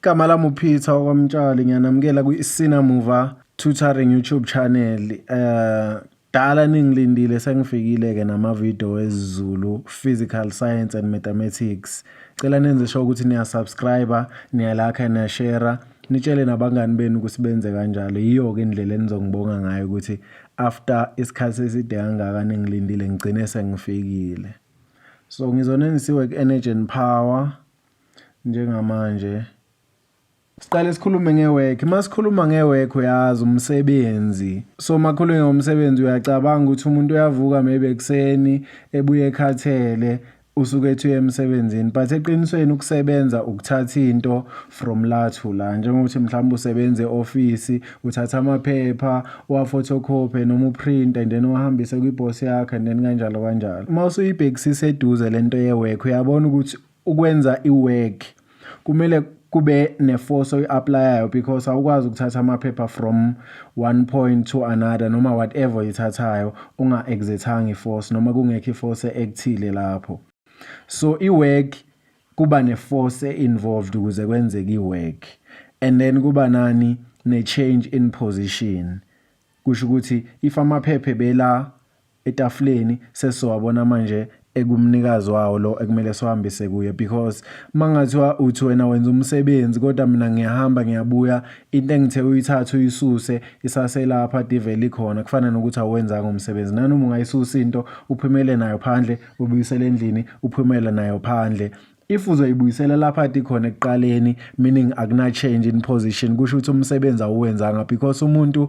Igama lami uPeter okwamtshali ngiyanamukela kwi-Sina Muva Tutoring YouTube channel. Eh dala ningilindile sengifikile ke namavideo wezulu physical science and mathematics. Cela nenze sure ukuthi niya subscribe, niya like, niya share. Nitshele nabangani benu ukuthi benze kanjalo. Yiyo ke indlela enizongibonga ngayo ukuthi after isikhathi eside kangaka ningilindile ngigcine sengifikile. So ngizonenisiwe ku-Energy and Power. njengamanje. Siqale sikhulume nge-work. Uma sikhuluma nge-work uyazi umsebenzi. So uma khulume ngomsebenzi uyacabanga ukuthi umuntu uyavuka maybe ekuseni ebuye ekhathele usuke ethi uye emsebenzini but eqinisweni ukusebenza ukuthatha into from la to la njengokuthi mhlawumbe usebenza e-ofisi uthatha amaphepha uwaphotocopy noma uprint and then uwahambise kwiboss yakho and then kanjalo kanjalo uma usuyibhekisisa eduze lento ye-work uyabona ukuthi ukwenza i-work kumele kube ne-force oyi-aplayayo because awukwazi ukuthatha amaphepha from one point to another noma whatever oyithathayo unga-exerthanga i-force noma kungekho i-force ekuthile lapho so i-work kuba ne-force e-involved ukuze kwenzeke i-work and then kuba nani ne-change in position kusho ukuthi if amaphepha bela etafuleni sesizowabona manje ekumnikazi wawo lo ekumele siwahambise kuye because mangathiwa uthi wena wenza umsebenzi kodwa mina ngiyahamba ngiyabuya into engithe uyithatha uyisuse isaselapha diveli khona kufana nokuthi awenzanga umsebenzi nanoma ungayisusa into uphumele nayo phandle ubuyisele endlini uphumele nayo phandle if uzoyibuyisela lapha ati khona ekuqaleni meaning akuna change in position kusho ukuthi umsebenzi awuwenzanga because umuntu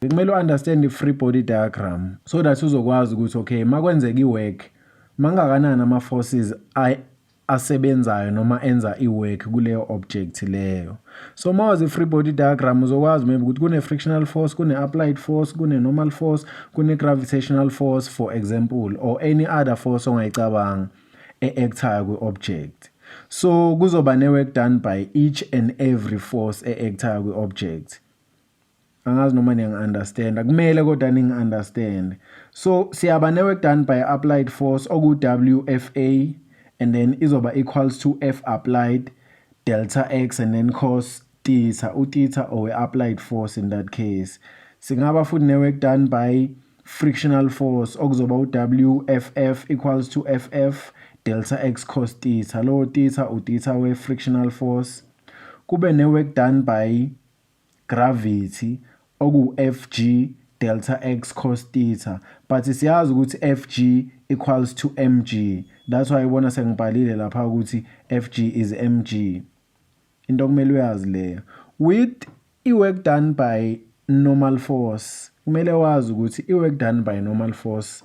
Bekumele u-understand i-free body diagram so that uzokwazi ukuthi okay uma kwenzeka i-work mangakanani ama-forces asebenzayo noma enza i-work kuleyo object leyo so uma wazi i-free body diagram uzokwazi maybe ukuthi kune-frictional force kune-applied force kune-normal force kune-gravitational force for example or any other force ongayicabanga e-actayo kwi-object so kuzoba ne-work done by each and every force e-actayo kwi-object angazi noma niyangi-understanda kumele kodwa ningi-understande so siyaba ne-work done by applied force oku-wfa and then izoba equals to f applied delta x and then cos theta utheta owe-applied force in that case singaba futhi ne-work done by frictional force okuzoba u-wff equals to ff delta x cos theta lowo theta utheta we-frictional force kube ne-work done by gravity okuwuFg delta x cos theta but siyazi ukuthi Fg equals to mg that's why ubona sengibhalile lapha ukuthi Fg is mg into okumele uyazi leyo with i-work done by normal force kumele wazi ukuthi i-work done by normal force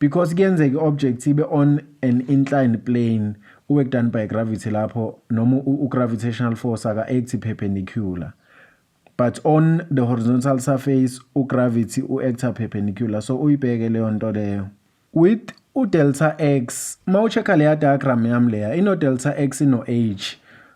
because kuyenzeka i-object ibe on an inclined plane uwork done by gravity lapho noma u-gravitational force aka-act perpendicular but on the horizontal surface ugravity u-acta perpendicular so uyibheke leyo nto leyo with udelta x uma ucheck-a leya diagram yami leya ino-delta x ino-h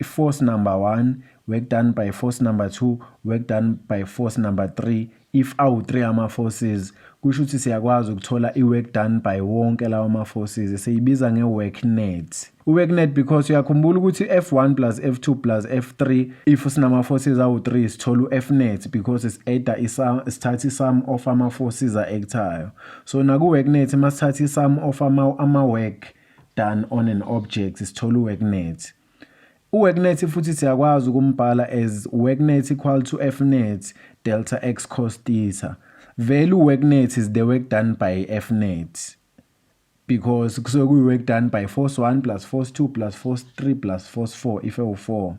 i-force number 1 work done by force number 2 work done by force number 3 if awu-3 ama-forces kusho ukuthi siyakwazi ukuthola i-work done by wonke lawa ma-forces siyibiza nge-work net u-work net because uyakhumbula ukuthi f1 plus f2 plus f3 if sinama-forces awu-3 sithola u-f net because is-ada sithatha i-sum of ama-forces a-actayo so naku-work net uma sithatha i-sum of ama-work ama done on an object sithola uWorknet. UWorknet futhi siyakwazi ukumbhala as Worknet equal to Fnet delta x cos theta. Vele uWorknet is the work done by Fnet because kusuke kuyi-work done by force 1 plus force 2 plus force 3 plus force 4 if ewu-4.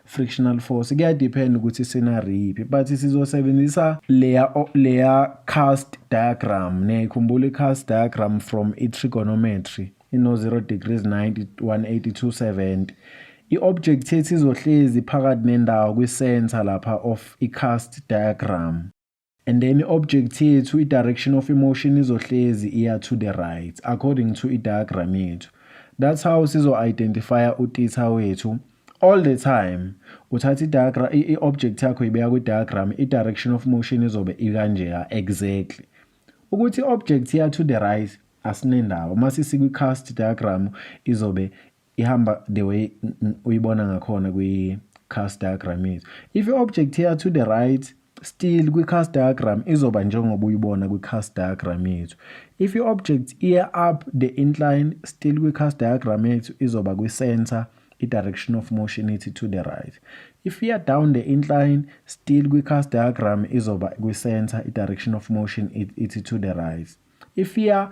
frictional force kuyadepend ukuthi sinariphi but sizosebenzisa leya leya cast diagram niyayikhumbula i-cast diagram from i-trigonometry ino 0 degrees 90 182 70 i-object yethu izohlezi phakathi nendawo kwi-center lapha of i-cast diagram And then i-object yethu i-direction of emotion izohlezi iya to the right according to i-diagram yethu. That's how sizo-identifya utitha wethu all the time uthatha i-diagram i-object yakho ibeka kwi-diagram i-direction of motion izobe ikanjeya exactly ukuthi i-object iya to the right asinendaba uma sisikwi-cast diagram izobe ihamba the way uyibona ngakhona kwi-cast diagram yethu if i-object here to the right still kwi-cast diagram izoba njengoba uyibona kwi-cast diagram yethu if i-object iya up the incline still kwi-cast diagram yethu izoba kwi-center i-direction of motion ithi to the right if iya down the incline still kwi-cast diagram izoba kwi-center i-direction of motion ithi to the right if iya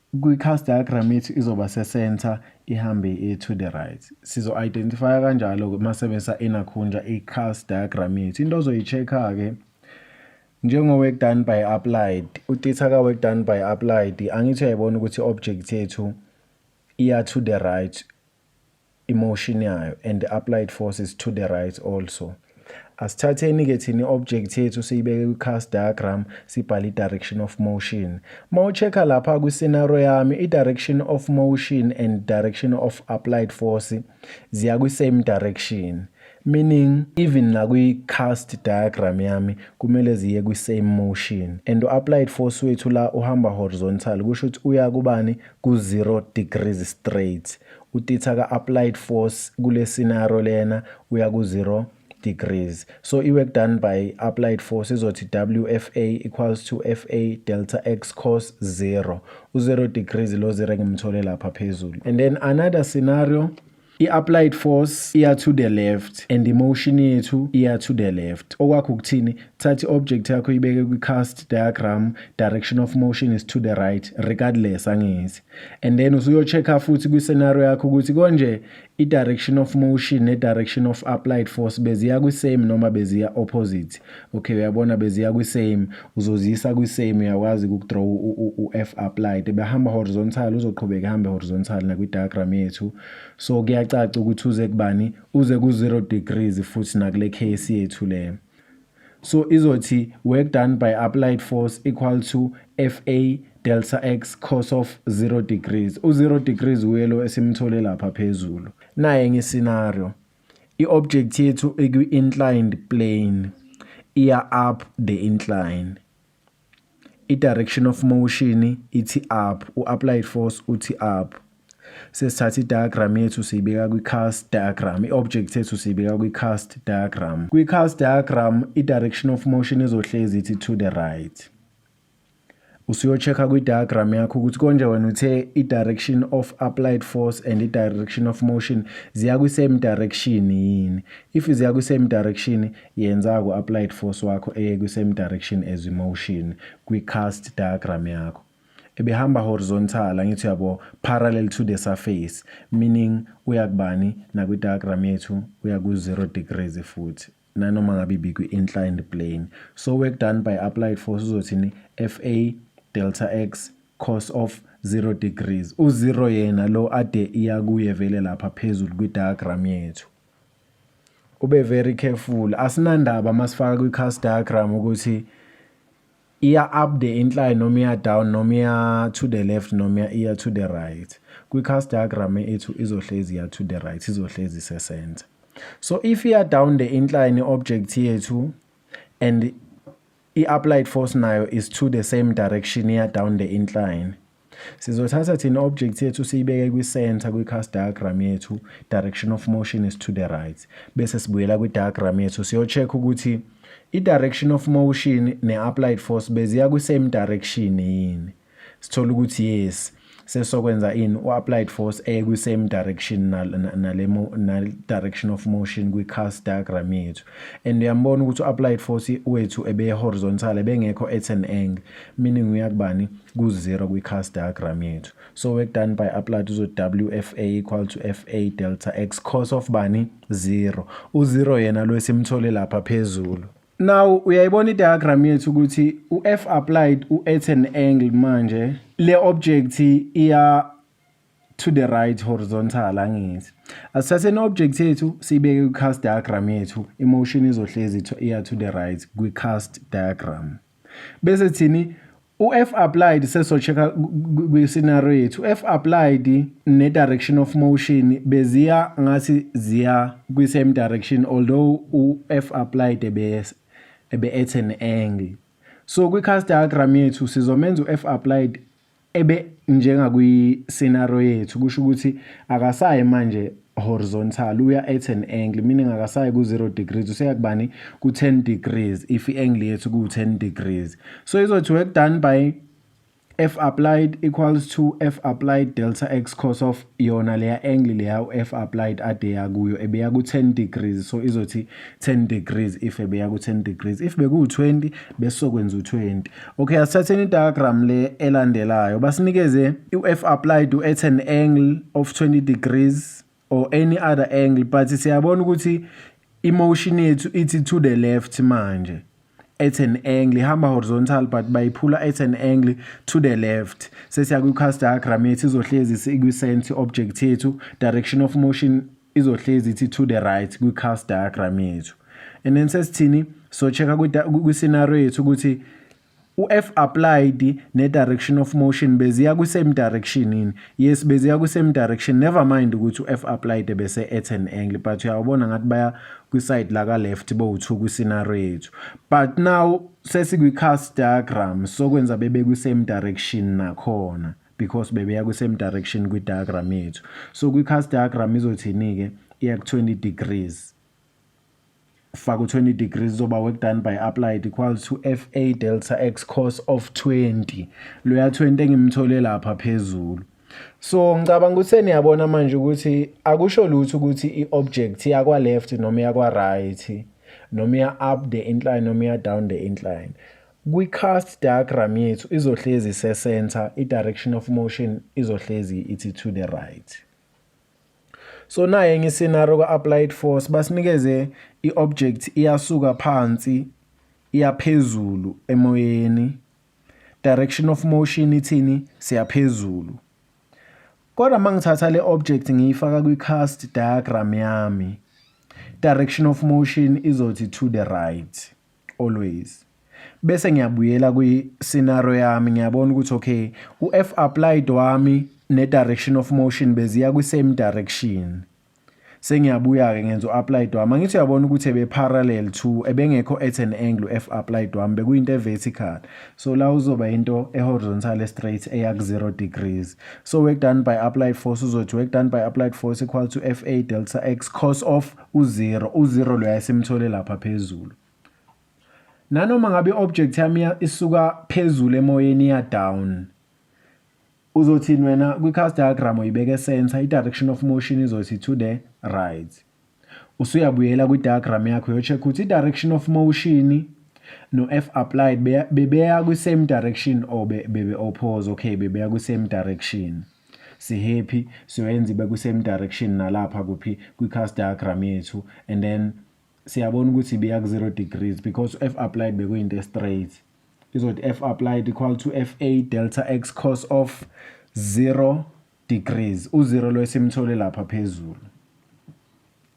Kwi-cast diagram ithi izoba se-center ihambe i-to the right. Sizo-identifya kanjalo-ke uma sebenzisa enakhunja i-cast diagram yethu. Into ozoyi-check-a-ke njengo-work done by applied, utitha ka-work done by applied, angithi uyayibona ukuthi i-object yethu iya to the right emotion yayo and the applied force is to the right also asithatheni ke thina i-object yethu siyibeke kwi-cast diagram sibhale i-direction of motion uma ucheck-a lapha kwi-scenario yami i-direction of motion and direction of applied force ziya kwi-same direction Meaning even nakwi cast diagram yami kumele ziye kwi same motion and u applied force wethu la uhamba horizontal kusho ukuthi uya kubani ku 0 degrees straight. Utitha ka applied force kule scenario lena uya ku 0 degrees. So i work done by applied force izothi WFA equals to FA delta X cos 0. U 0 degrees lo 0 ngimthole lapha phezulu. And then another scenario I-applied force iya to the left and imotion yethu iya to the left. Okwakho ukuthini? Thatha i-object yakho ibeke kwi-cast diagram, direction of motion is to the right regardless angithi. And then usuyo-check-a futhi kwi-scenario yakho ukuthi konje i-direction of motion ne-direction of applied force beziya kwi-same noma beziya opposite. Okay, uyabona beziya kwi-same. uzoziyisa kwi-same uyakwazi ukudraw u-f applied ebehamba horizontal uzoqhubeka ehambe horizontal nakwi-diagram yethu so kuyacaca ukuthi uze kubani uze ku-zero degrees futhi nakule case yethu le so izothi work done by applied force equal to fa delta x cos of 0 degrees u-0 degrees uye lo esimthole lapha phezulu naye nge-scenario I-object yethu ikwi-inclined plane iya up the incline. I-direction of motion ithi up, u-applied force uthi up. Sesithatha i-diagram yethu siyibeka kwi-cast diagram, i-object yethu siyibeka kwi-cast diagram. Kwi-cast diagram, i-direction of motion izohlezi ithi to the right. usuyo-check-a kwi-diagram yakho ukuthi konje wena uthe i-direction of applied force and i-direction of motion ziya kwi-same direction yini if ziya kwi-same direction yenza ku-applied force wakho eye kwi-same direction as i-motion kwi-cast diagram yakho ebehamba horizontal angithi uyabo parallel to the surface meaning uya kubani nakwi-diagram yethu uya ku-0 degrees futhi nanoma ngabe ibikwi-inclined plane so work done by applied force uzothini fa delta x cos of 0 degrees u-0 yena lo ade iya kuye vele lapha phezulu kwi-diagram yethu ube very careful asinandaba masifaka kwi-cast diagram ukuthi iya up the incline noma iya down noma iya to the left noma iya to the right kwi-cast diagram ethu izohlezi iya to the right izohlezi isesenza so if iya down the incline i-object yethu and i-applied force nayo is to the same direction iya down the incline Sizothatha thina object yethu siyibeke kwi-center kwi-cast diagram yethu, direction of motion is to the right. Bese sibuyela kwi-diagram yethu siyo-check ukuthi i-direction of motion ne-applied force beziya kwi-same direction yini. Sithola ukuthi yes, sesokwenza ini u-applied force eye kwi-same direction nale-direction of motion kwi-cast diagram yethu. And uyambona ukuthi u-applied force wethu ebe-horizontal ebengekho at an angle. meaning uya kubani ku-zero kwi-cast diagram yethu so work done by applied uzo wfa equal to fa delta x cos of bani zero u-zero yena lo esimthole lapha phezulu now uyayibona i-diagram yethu ukuthi u-f applied u-at an angle manje le object iya to the right horizontal angithi asithathe ne-object yethu siyibeke kwi-cast diagram yethu imotion izohlezi iya to the right kwi-cast diagram bese thini u-f applied sesocheck-a kwi-scenario yethu u-f applied ne-direction of motion beziya ngathi ziya kwi-same direction although u-f applied ebe-at an angle so kwi-cast diagram yethu sizomenza u-f applied ebe njengakwi-scenario yethu kusho ukuthi akasayi manje horizontal uya at an angle meaning akasayi ku-0 degrees useya kubani ku-10 degrees if i-angle yethu kuwu-10 degrees so izothi work done by f applied equals to f applied delta x cos of yona leya angle leya u-f applied ade yakuyo ebeya ku-10 degrees so izothi 10 degrees if ebeya ku 10 degrees if beku 20 besokwenza u 20 okay asithatheni i diagram le elandelayo basinikeze if applied to at an angle of 20 degrees or any other angle but siyabona ukuthi emotion yethu ithi to the left manje at an angle ihamba horizontal but bayiphula at an angle to the left sesiya kwi cast diagram yethu izohlezi ikwi center object yethu direction of motion izohlezi ithi to the right kwi-cast diagram yethu and then sesithini socheka kwi-scenario yethu ukuthi u-f applied ne-direction of motion beziya kwi-same direction yini yes beziya kwi-same direction never mind ukuthi u-f applied bese at an angle but uyawubona ngathi baya kwi-side laka-left bowu-two kwi-scenario yethu but now sesikwi-cast diagram sokwenza bebe kwi-same direction nakhona because bebeya kwi-same direction kwi-diagram yethu so kwi-cast diagram izothini-ke iya ku-20 degrees faka u-20 degrees uzoba work done by applied equals to fa delta x cos of 20 loya 20 engimthole lapha phezulu so ngicabanga ukuthi seniyabona manje ukuthi akusho lutho ukuthi i-object yakwa-left noma yakwa-right noma iya-up the incline noma iya-down the incline Kwi-cast diagram yethu izohlezi ise-center, i-direction of motion izohlezi ithi to the right. So naye enye i-scenario ka-applied force basinikeze i-object iyasuka phansi iyaphezulu emoyeni direction of motion ithini siyaphezulu kodwa uma ngithatha le object ngiyifaka kwi-cast diagram yami direction of motion izothi to the right always bese ngiyabuyela kwi scenario yami ngiyabona ukuthi okay u F applied wami ne direction of motion beziya kwi same direction sengiyabuya ke ngenza uApplied wami angithi uyabona ukuthi ebe parallel to ebengekho at an angle F applied wami bekuyinto evertical so la uzoba into ehorizontal straight eya ku 0 degrees so work done by applied force uzothi work done by applied force equal to FA delta x cos of u-0 u-0 loya esimthole lapha phezulu nanoma ngabe i-object yami isuka phezulu emoyeni iya down uzothini wena kwi-cast diagram uyibeke center i-direction of motion izothi to the right usuyabuyela kwi-diagram yakho uyocheck ukuthi i-direction of motion no-f applied bebeya kwi-same direction or bebe-oppose okay bebeya kwi-same direction sihappy siyoyenza ibe kwi-same direction nalapha kuphi kwi-cast diagram yethu and then siyabona ukuthi ibiya ku-zero degrees because f applied bekuyinto estraight izothi f applied equal to f a delta x cos of 0 degrees u-zero lo esimthole lapha phezulu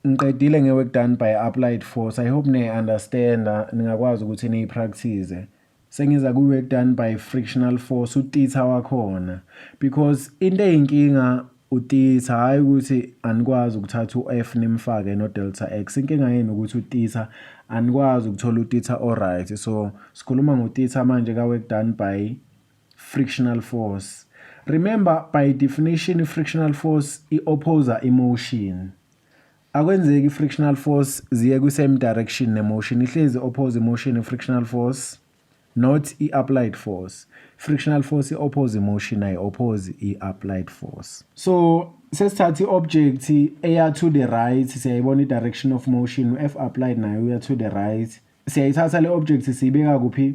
ngiqedile nge-work done by applied force i hope niyi-understanda ningakwazi ukuthi niyi-practice Sengiza ku work done by frictional force utitha wakhona because into eyinkinga utitha hayi ukuthi anikwazi ukuthatha uF nimfake no delta X inkinga yenu ukuthi utitha anikwazi ukuthola utitha alright so sikhuluma ngotitha manje ka work done by frictional force remember by definition frictional force i opposer emotion Akwenzeki frictional force ziye kwi same direction ne motion ihlezi oppose motion frictional force not i applied force. Frictional force i oppose motion ay oppose i applied force. So sesithatha i object eya to the right siyayibona i direction of motion F applied nayo uya to the right. Siyayithatha le object siyibeka kuphi?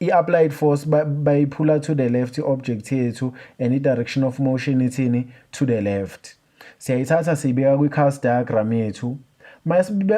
I-applied force bayiphula to the left i-object yethu and i-direction of motion ithini to the left siyayithatha siyibeka kwi-cast diagram yethu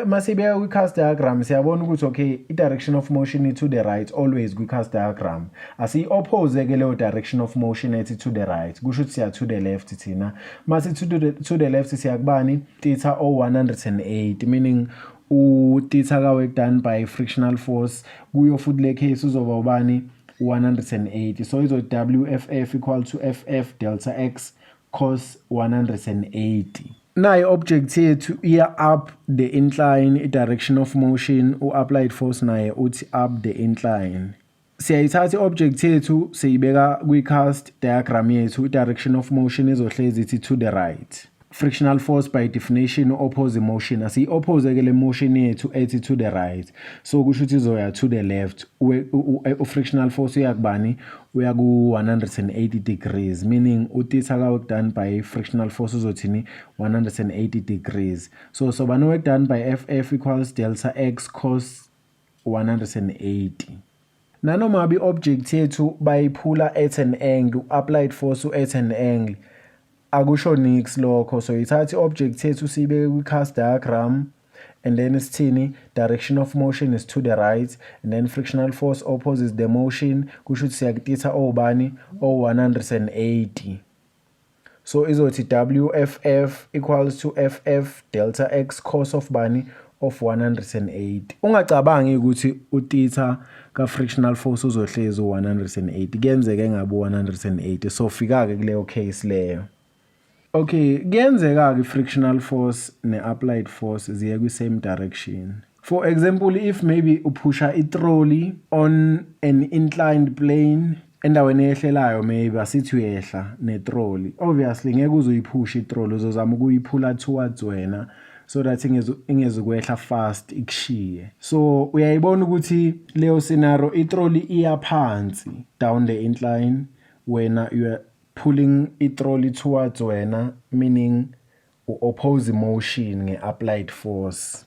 masibeka kwi-cast diagram siyabona ukuthi okay i-direction of motion to the right always kwi-cast diagram asiyi-oppose ke leyo direction of motion ethi to the right kusho ukuthi siya to the left thina masi to the, to the left siyakubani titha o-108 meaning utitha kawork done by frictional force kuyo futhi le case uzoba ubani 180 so izo wff equal to ff delta x cos 180 nayi object yethu iya up the incline i direction of motion u applied force naye uthi up the incline Siyayithatha i-object yethu siyibeka kwi-cast diagram yethu, i-direction of motion izohlezi ithi to the right. Frictional force by definition oppose motion asiyi-oppose ke le motion yethu ethi to the right so kusho ukuthi izoya to the left u-frictional force uyakubani uya ku-180 degrees meaning utitha ka wekudone by frictional force uzothini 180 degrees so sobani wekudone by ff equals delta x cos 180. Nanoma bi-object yethu bayiphula at an angle, applied force at an angle, akusho nix lokho. So ithatha i-object yethu siyibeke kwi-cast diagram and then isithini direction of motion is to the right and then frictional force opposes the motion kusho ukuthi siyakutitha obani o-180 So izothi WFF equals to FF delta X cos of bani of 180. Ungacabangi ukuthi utitha ka frictional force uzohlezi u180. Kuyenzeka engabe u180. So fika ke kuleyo case leyo. Okay, kuyenzeka ke frictional force ne applied force ziye kwi same direction. For example, if maybe uphusha i trolley on an inclined plane endaweni eyehlelayo maybe asithi uyehla netroli obviously ngeke uzoyiphusha itroli uzozama ukuyiphula towards wena so that ingezukwehla fast ikushiye so uyayibona ukuthi leyo scenario itroli iya phansi down the incline wena you are pulling itroli towards wena meaning u-oppose motion nge-applied force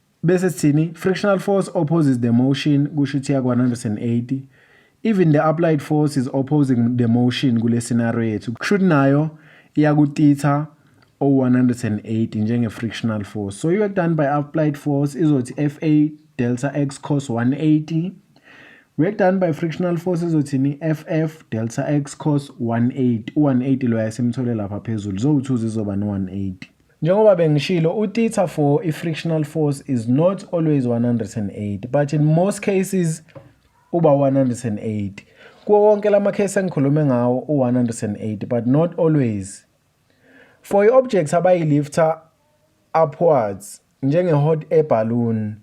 bese sithini frictional force opposes the motion kusho ukuthi yakwa 180 even the applied force is opposing the motion kule scenario yethu kusho ukuthi nayo iyakutitha o-180 njenge-frictional force so i-work done by applied force izothi fa delta x cos 180 work done by frictional force izothini ff delta x cos 180 u-180 loya simthole lapha phezulu zowuthuza izoba no-180 Njengoba bengishilo, u-theta for i-frictional force is not always 108 but in most cases uba 108. Kuwo wonke la makhesi engikhulume ngawo u-108 but not always. For i-objects abayilifta upwards njenge-hot air balloon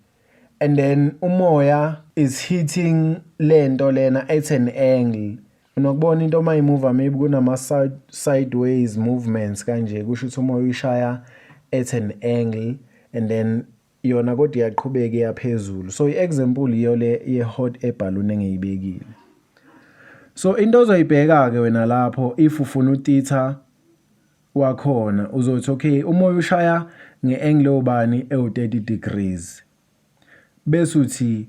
and then umoya is hitting lento lena at an angle Unokubona into uma imuva maybe kunama sideways movements kanje kusho ukuthi uma uyishaya at an angle and then yona kodwa iyaqhubeka iyaphezulu so i-example yiyo le ye-hot air balloon engiyibekile so into ozoyibheka-ke wena lapho if ufuna utitha wakhona uzothi okay umoya ushaya nge-angle obani ewu-30 degrees bese uthi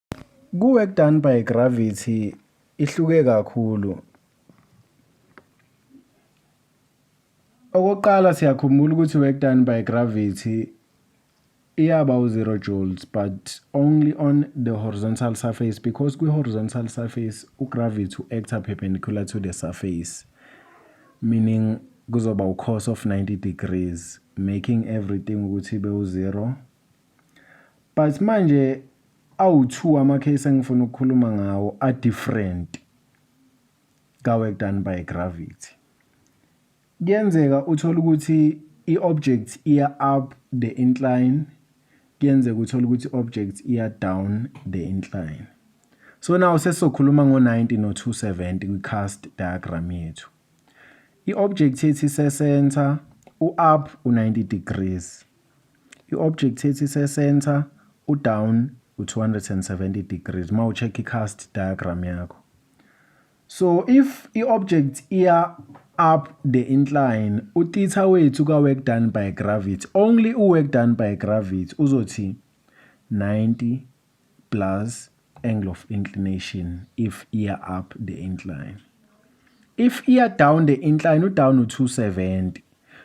Ku-work done by gravity ihluke kakhulu. Okokuqala siyakhumbula ukuthi work done by gravity iyaba u-zero joules but only on the horizontal surface because kwi-horizontal surface ugravity u-acta perpendicular to the surface meaning kuzoba u-cos of 90 degrees making everything ukuthi ibe u-zero But manje awu-two ama-case engifuna ukukhuluma ngawo a-different ka-work done by gravity. Kuyenzeka uthole ukuthi i-object iya up the incline, kuyenzeka uthole ukuthi i-object iya down the incline. So now sesizokhuluma ngo-90 no-270 kwi-cast diagram yethu. I-object yethu ise-center, u-up u-90 degrees. I-object ethi ise-center, u-down u-270 degrees uma u-check i-cast diagram yakho. So if i-object iya up the incline, utheta wethu ka-work done by gravity, only u-work done by gravity uzothi 90 plus angle of inclination if iya up the incline. If iya down the incline, udown u-270.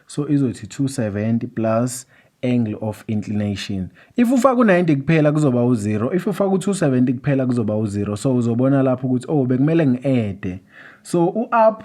So izothi 270 plus angle of inclination. If ufaka u-90 kuphela kuzoba u-0. If ufaka u-270 kuphela kuzoba u-0. So uzobona lapho ukuthi oh bekumele ngi-ede. So u-up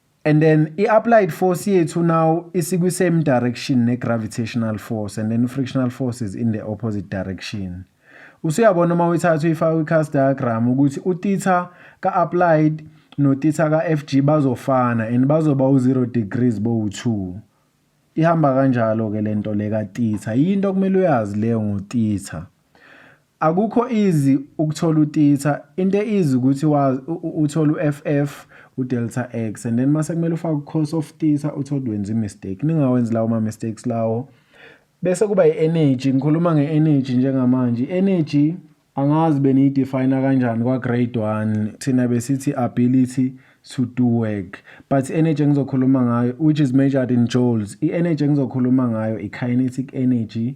And then i-applied force yethu now isikwi-same direction ne-gravitational force and then i-frictional force is in the opposite direction. Usuyabona uma uyithatha uyifaka kwi-cast diagram ukuthi utitha ka-applied notitha ka-FG bazofana and bazoba u-0 degrees bowu-2. Ihamba kanjalo-ke le nto le katitha. Yinto okumele uyazi leyo ngotitha. Akukho easy ukuthola utitha into easy ukuthi wazi uthola uFF udelta X and then mase kumele ufake ucourse of titha uthole wenza imistake ningawenzi lawo ma mistakes lawo bese kuba i-energy ngikhuluma nge-energy njengamanje i-energy angazi beniyidefine kanjani kwa grade 1 thina besithi ability to do work but energy engizokhuluma ngayo which is measured in joules i-energy engizokhuluma ngayo i-kinetic energy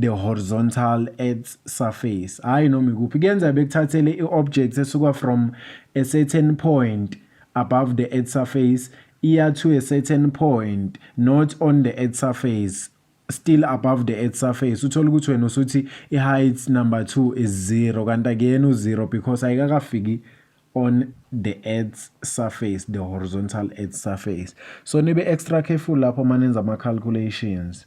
the horizontal earth's surface hhayi noma ikuphi kuyenzeka bekuthathele i-object esuka from a certain point above the earth surface iya to a certain point not on the earth surface still above the earth surface uthola ukuthi wena usuthi i-height number 2 is 0 kanti akuyena u-0 because ayikakafiki on the earth's surface the horizontal earth surface so nibe extra careful lapho manenza ama-calculations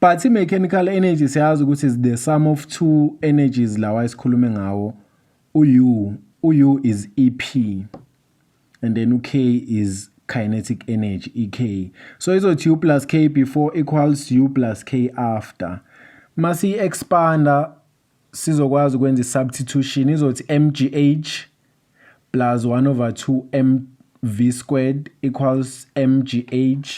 but i-mechanical energy siyazi ukuthi is the sum of two energies lawa esikhulume ngawo u-u u-u is ep and then u-k is kinetic energy ek so izothi u plus k before equals u plus k after masiyi-expanda sizokwazi ukwenza i-substitution izothi mgh plus 1 over 2 mv squared equals mgh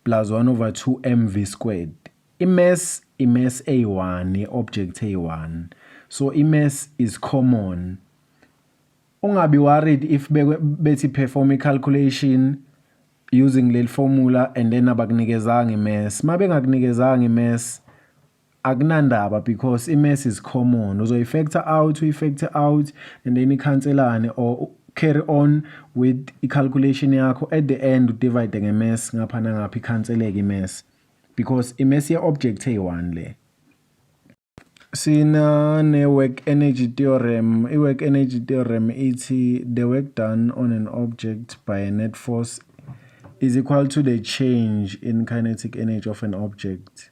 plus 1 over 2 mv squared. I-mass i-mass eyi-1 i-object eyi-1 so i-mass is common. Ungabi worried if bethi perform i-calculation using leli formula and then abakunikezanga i-mass. Uma bengakunikezanga i-mass akunandaba because i-mess is common uzoyi-factor out uyi-factor out and then ikhanselane or carry on with i-calculation yakho at the end udivide nge-mess ngapha nangapha ikhanseleke i-mess because i-mess ye-object eyi-one le sina ne-work energy theorem i-work energy theorem ithi the work done on an object by a net force is equal to the change in kinetic energy of an object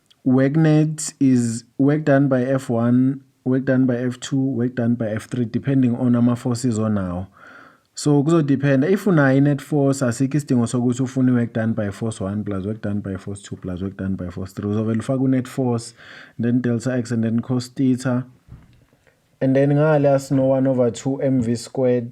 Work net is work done by F1, work done by F2, work done by F3 depending on ama forces onawo. So kuzodependa if unayo i-net force asikho isidingo sokuthi ufune i-work done by force 1 plus work done by force 2 plus work done by force 3 uzovele ufake u-net force then delta x and then cos theta and then ngale asino 1 over 2 mv squared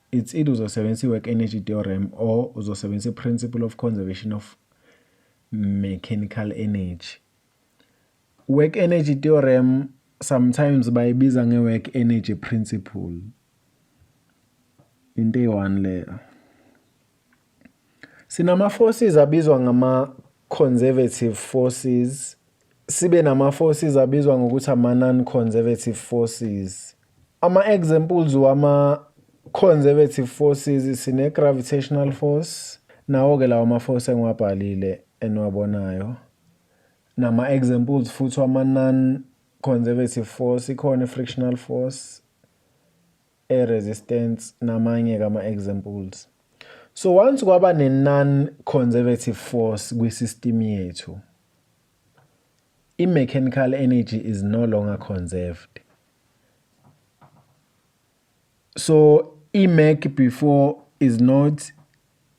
It's either uzosebenzisa i-work energy theorem or uzosebenzisa i-principle of conservation of mechanical energy. Work energy theorem sometimes bayibiza nge-work energy principle. Into eyi-one leyo. Sinama-forces abizwa ngama-conservative forces, sibe nama-forces abizwa ngokuthi ama-non-conservative forces. Ama-examples wama-conservative forces sine-gravitational force, nawo-ke lawa ma-force engiwabhalile eniwabonayo. Nama-examples futhi wama-non-conservative force, ikhona i-frictional force, e resistance namanye kama examples. So once kwaba ne non conservative force kwi system yethu i mechanical energy is no longer conserved. So i mech before is not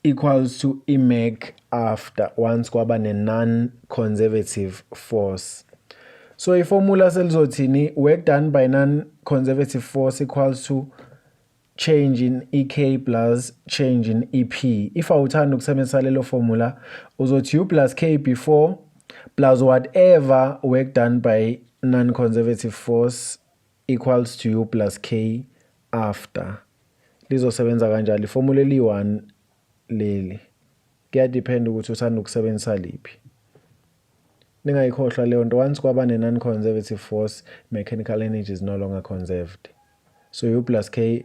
equals to imag after once kwaba ne non conservative force so iformula selizothini work done by non conservative force equals to change in ek plus change in ep if awuthanda ukusebenzisa lelo formula uzothi u plus k before plus whatever work done by non conservative force equals to u plus k after lizosebenza kanjalo ifomula eliyi-1 leli kuyadiphenda ukuthi uthanda ukusebenzisa liphi ningayikhohlwa leyo nto once kwaba ne-non-conservative force mechanical energy is no longer conserved so u plus k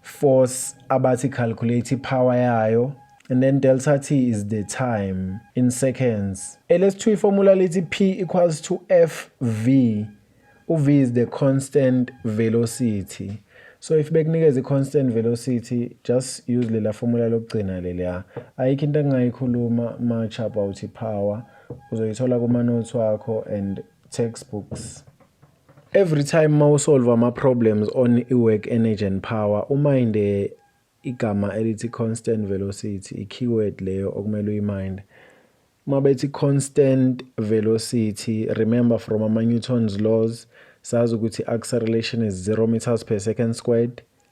force abathi calculate power yayo and then delta t is the time in seconds elesithu iformula lithi p equals to f v uv is the constant velocity so if bekunikeza i-constant velocity just use lela formula lokugcina leliya ayikho into engingayikhuluma much about i-power uzoyithola kuma-notes wakho and textbooks Every time mawusolve ama problems on iWork Energy and Power uminde igama elithi constant velocity i-keyword leyo okumele uyiminde. Uma bethi constant velocity remember from ama-Newton's laws sazi ukuthi acceleration is 0 meters per second squared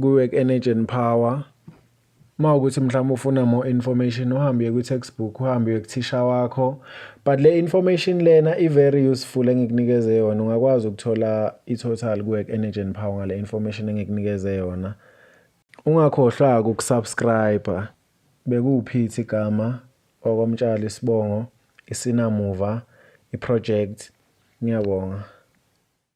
kuwe ku-energy and power uma ukuthi mhlawumbe ufuna more information uhambe uye kwi-textbook uhambe uye kuthisha wakho but le information lena i-very useful engikunikeze yona ungakwazi ukuthola i-total kuwork energy and power ngale information engikunikeze yona ungakhohlwa-ke ukusubscribe bekuwuphithi igama okomtshali isibongo isinamuva iproject ngiyabonga